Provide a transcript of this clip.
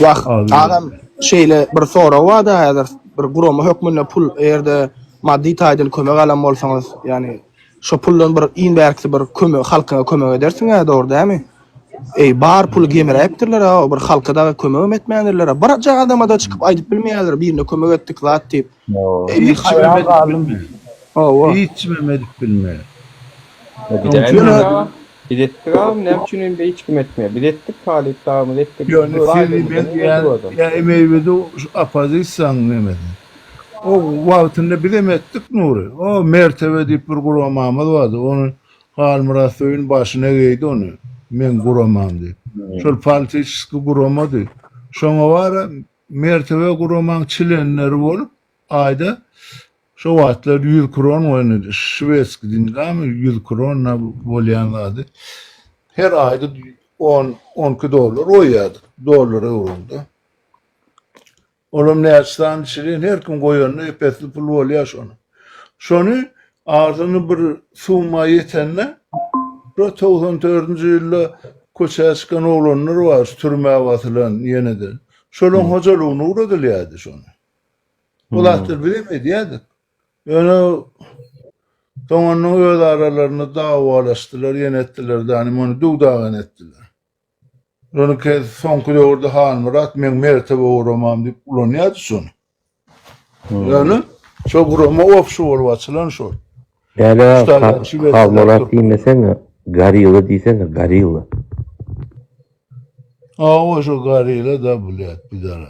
Wah, agam, şeýle bir sorag bar-da, häzir bir gurama hökmünde pul, eger-de maddy taýdan kömek alan bolsaňyz, ýagny şo puldan bir iň bärkisi bir köme halkyňa kömek edersiň-ä, dogry dälmi? Eý, bar puly gemiräpdirler-ä, bir halka dagy kömegem etmändirler-ä. Birje adama-da çykyp aýdyp bilmeýärler, birine kömek etdik, zat diýip. Eý haýran galdym Hawa. Hiçmem edip bilmeýär. Biz etdik agam näme üçin indi hiç kim etmeýär. Biz etdik talyp dagymyz etdik. Ýöne Siri ben diýýän ýa emeýbidi şu oppozisiýanyň nemesi. O wagtynda bizem etdik Nury. O Mertebe diýip bir guramamyz bardy. Ony Halmyrat Söýün başyna geýdi ony. Men guramam diýip. Şol politiçeskiý guramady. Şoňa bara Mertebe guramaň çlenleri bolup aýda şo wagtlar ýüz kron goýnudy şwedski dingami ýüz kron na bolýan zady her aýda on on iki dollar goýýardyk dollara öwrüldi olam näçe sany çlen her kim goýanda epesli pul bolýa şony şony Arzyny bir summa ýetende, şo togsan dördünji ýylda köçä çykan oglanlar bar, şu türmä basylan ýene-de. Şolaryň hojalygyna ugradylýardy şony. Bu zatlary biz hem edýärdik. Ýöne soňandan öz aralarynda dawalaşdylar, ýene etdiler, dänim ony döw-dagan etdiler. Ýönekeý soňky döwürde Halmyrat meň mertebe guramam diýip ulanýardy şony. Ýöne şo gurama obşy bolup açylan şol. Däde Halmyrat diýmeseň, Gorilla diýsene, Gorilla. Hawa, şo Gorilla-da, blet, pidara.